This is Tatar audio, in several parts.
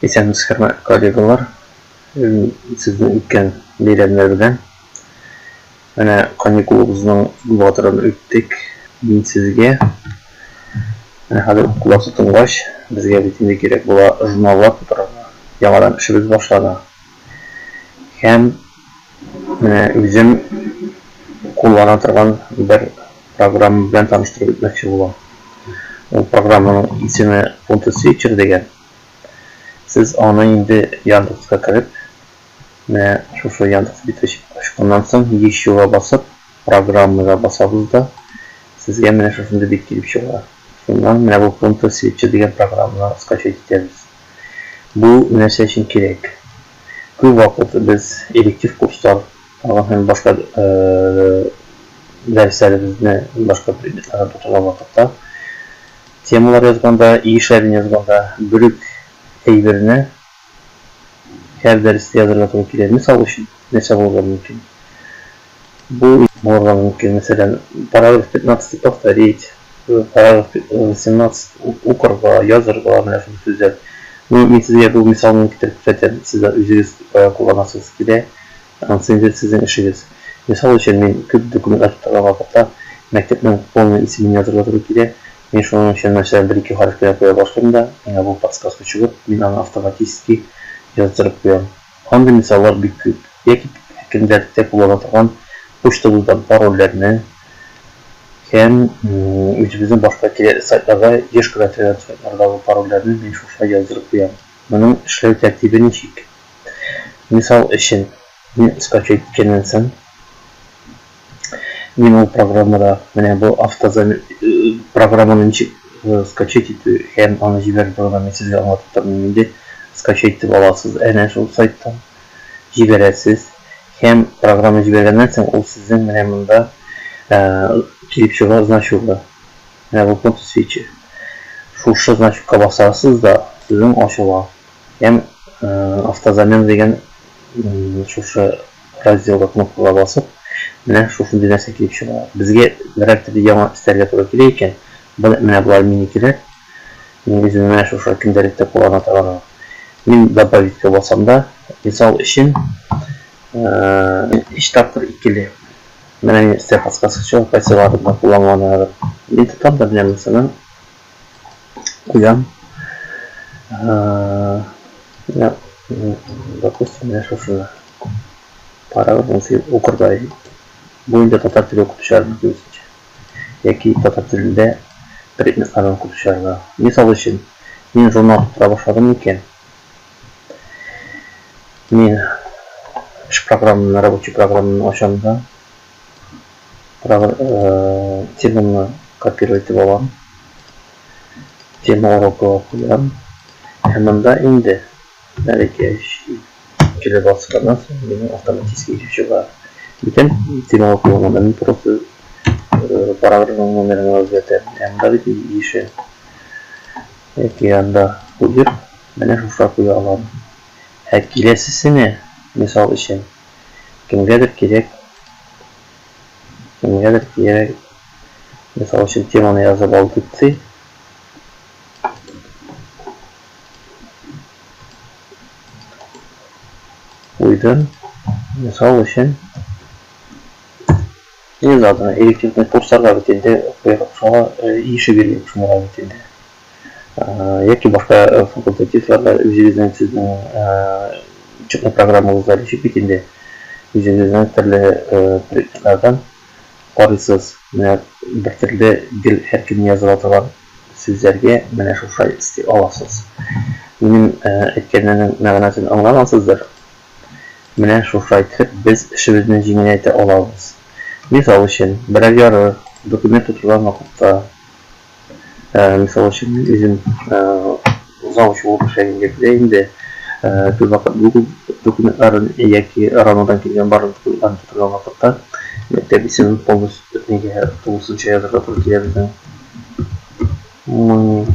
Исәнмез, хөрмәтле коллегалар. Сезнең үткән бәйрәмнәр белән. Менә каникулыбызның батырын үттек. Мин сезгә менә хәзер укулар тотынгач, безгә бит инде кирәк була журналлар тутырырга. Яңадан эшебез башлана. Һәм Менә үзем куллана торган бер программа белән таныштырып үтмәкче булам. Ул программаның исеме Photo Switcher дигән. Сез аны инде Яндекска кереп, менә шушы Яндекс бит ачканнан соң, ещега басып, программага басабыз да, сезгә менә шушындый бит килеп чыга. Шуннан менә бу Photo Switcher дигән программаны скачать итәбез. Бу нәрсә өчен кирәк? Күп вакыт без электив курслар тагын һәм башка дәресләребезне, башка предметларны тотынган вакытта, темалар язганда, өй эшләрен язганда бер үк әйберне һәр дәрестә язырга туры килә. Мисал өчен, нәрсә булырга мөмкин? Бу булырга мөмкин, мәсәлән, параграф 15-ти повторить, параграф 18 укырга, язырга, менә шундый сүзләр. Ну, мин сезгә бу мисал белән китереп күрсәтәм, сез дә үзегез кулланасыз килә, анысы инде сезнең эшегез. Мисал өчен, мин күп документлар тутырган вакытта мәктәпнең полный исемен язырга туры килә, мин шуның өчен, мәсәлән, бер-ике хәреф кенә куя башлыйм да, миңа бу подсказка чыгып, мин аны автоматически яздырып куям. Андый мисаллар бик күп. Яки кемнәрдә куллана торган почтабыздан парольләрне һәм үзебезнең башка кирәкле сайтларга еш кына керән сайтлардагы парольләрне мин шуша яздырып куям. Моның эшләү тәртибе ничек? Мисал өчен, мин скачать иткәннән соң, Мин ул программада менә бу автозам программаны ничек скачать итү һәм аны җибәрү турында мин сезгә аңлатып тормыйм инде. Скачать итеп аласыз әнә шул сайттан. Җибәрәсез һәм программа җибәргәннән соң ул сезнең менә монда килеп чыга значуга. Менә бу фото свечи. Шушы значукка басасыз да сезнең ачыла. Һәм автозамен дигән шушы Разделга кнопкага басып, менә шушындый нәрсә килеп чыга. Безгә берәртер яңа өстәргә туры килә икән, бер менә болай мини кирәк. Мин үзем менә шушы көндәлектә куллана торганым. Мин добавитька басам да, мисал өчен, өч тапкыр икеле. Менә мин өстәр подсказкасы чыга, кайсыларында кулланган ягын. Мин тотам да менә монысының куям. Ә, я, допустим, я сейчас уже пара вызы укырдай. Бу инде татар теле укып төшәрмен күрсәтче. Яки татар телендә предметлардан укып төшәрмен. Мисал өчен, мин журнал тутыра башладым икән. Мин эш программаны, рабочий программаны ачам да, теманы копировать итеп алам. Тема урокыга куям. Һәм монда инде әлеге килеп басканнан соң мин автоматически ишеп чыга. Бүтән темага куелган, мин просто параграфның номерын үзгәртәм. Һәм монда бит ише яки анда куеп, менә шуша куя алам. Ә киләсесенә, мисал өчен, Кемгәдер кирәк, кемгәдер кирәк, мисал өчен теманы язып ал дип ти. Куйдым, мисал өчен, не надо, элективный курсларга бит инде, шуңа ише биргән шуңа бит инде. яки башка факультативларда үзегезнең сезнең учебный программагызда ничек бит инде үзегезнең төрле предметлардан карыйсыз менә бер төрле гел һәркем языла торган сүзләргә менә шушай исти аласыз минем әйткәннәрнең мәгънәсен аңлагансыздыр менә шушай итеп без эшебезне җиңеләйтә алабыз мисал өчен берәр яры документ тутырган вакытта Ә, мисал өчен, мин үзем завуч булып эшләгән җирдә инде төбәкәт бүген документларын яки РАНОдан килгән барлык документларын тотарга вакытта мәктәп исемен полностью нигә тулысынча язырга туры килә безнең. Мы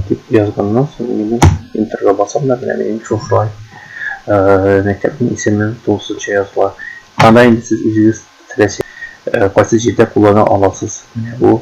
дип язганнан соң мин интерга басам да менә минем шушылай мәктәпнең исеме тулысынча языла. Анда инде сез үзегез теләсә кайсы җирдә куллана аласыз. Менә бу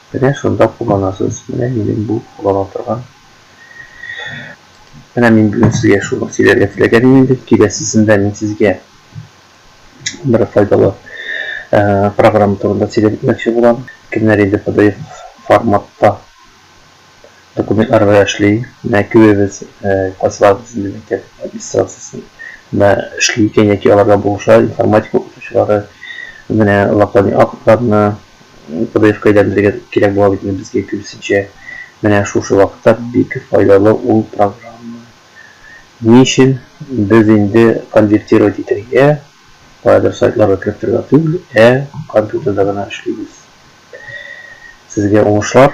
Менә шунда кулланасыз, менә минем бу куллана торган. Менә мин бүген сезгә шуны сөйләргә теләгән идем бит, киләсесендә мин сезгә бер файдалы программа турында сөйләп үтмәкче булам. Кемнәр инде PDF форматта документларда эшли, менә күбебез классларыбыз инде мәктәп администрациясендә эшли икән яки аларда булыша, информатика укытучылары менә локальный актларны PDF-кайдан белгән кирәк була бит инде безгә киресенчә. Менә шушы вакытта бик файдалы ул программа. Ни өчен без инде конвертировать итәргә, каядыр сайтларга кереп торырга түгел, ә компьютерда гына эшлибез. Сезгә уңышлар!